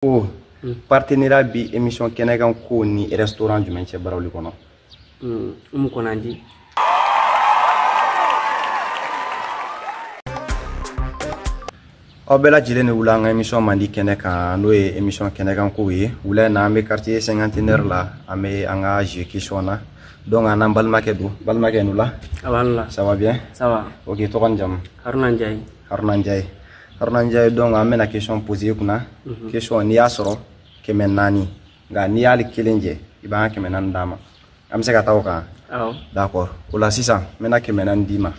ko hmm. partenariat bi émission kɛnɛ kan kow ni restaurant jumɛn cɛ barawuli kɔnɔ hmm. umu konanji aw bɛɛ lajɛlen ni wula an ka émission mandi kɛnɛ kan n'o ye émission kɛnɛ kan kow ye wula in na an bɛ quartier cinquantenaire la an bɛ an ka jeu question na donc an n'an balimakɛ don balimakɛ ni wula ça va bien ça va ok tɔgɔ ni jamu haruna njayi haruna njaye haruna njaye donc an bɛna question poser i kunna mhm. question n'i y'a sɔrɔ kɛmɛ naani nka n'i y'ale kelen jɛ i b'an ka kɛmɛ naani d'an ma an bɛ se ka taa o kan d'accord o la sisan n bɛna kɛmɛ naani d'i ma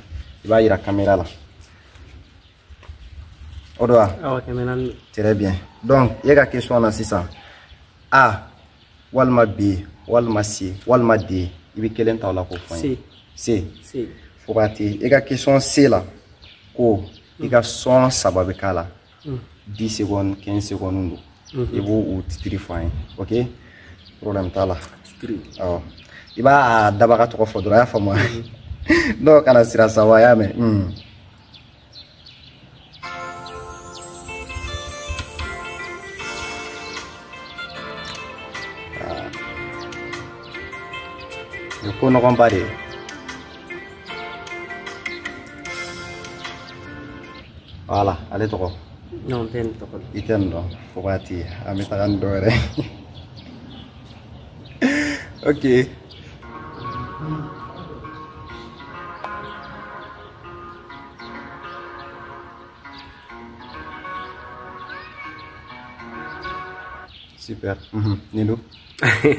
i b'a jira kamera la o don wa très bien donc i ka question na sisan a walima b walima c walima d i bɛ kelen ta o la k'o fɔ n ye c fo ka te i ka question c la ko i ka sɔn saba bɛ k'a la dix secondes quinze secondes don i b'o o titiri fɔ an ye ok problème t'a la awɔ i b'a dabaga tɔgɔ fɔ dɔrɔn a y'a faamu donc kana siran sa wa y'a mɛn Nin ko nɔgɔnba de ye voilà ale tɔgɔ i tɛ nin dɔn fo k'a ti an bɛ taga ni dɔ wɛrɛ ok super mhm. nin dun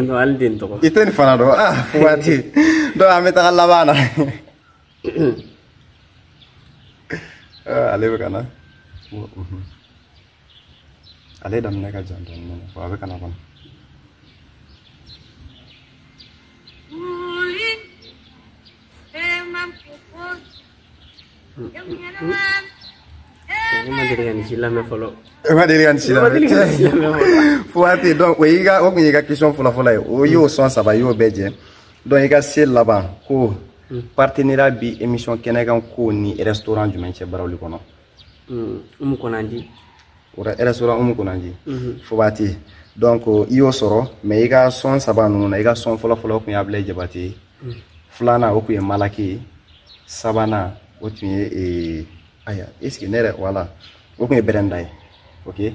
non hali den tɔgɔ i tɛ nin fana dɔn ah fo k'a ti donc an bɛ taga laban na ale bɛ ka na ale daminɛ ka jan dɔɔni dɔɔni wa a bɛ ka na kɔnɔ ma deli ka nin si lamɛn fɔlɔ e ma deli ka nin si lamɛn fo ka ten donc o y'i ka o tun y'i ka question fɔlɔfɔlɔ ye o y'o sɔn saba i y'o bɛɛ jɛ donc i ka se laban ko partenariat bi émission kɛnɛkan kow ni restaurant jumɛn cɛ barawuli kɔnɔ Mm, umu konanji restaurant umu konanji mm-hmm. fo b'a te donc i y'o sɔrɔ mais i ka sɔn saba ninnu na i ka sɔn fɔlɔfɔlɔ kun ye abulayi jabate ye mm. filanan o kun ye malakey ye sabanan o tun ye aya est ce que ne yɛrɛ voilà o kun ye bɛrɛnda ye ok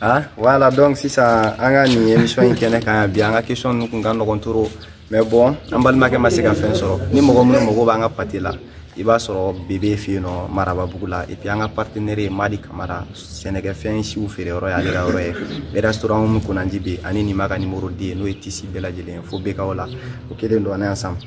ah voilà donc sisan an ka nin émission in kɛnɛ kan yan bi an ka question ninnu kun ka nɔgɔn trop mais bon an balimakɛ ma se ka fɛn sɔrɔ ni mɔgɔ minnu mago b'an ka pate la i b'a sɔrɔ bebe fɛ yen nɔ marababugu la epi an ka partenɛri ye madi kamara sɛnɛkɛfɛn siw feere yɔrɔ y'ale ka yɔrɔ ye bɛ restaurant min konanji bɛ ani nin ma ka nimoro di ye n'o ye tisi bɛɛ lajɛlen ye fo bɛ k'aw la o kelen don on est ensemble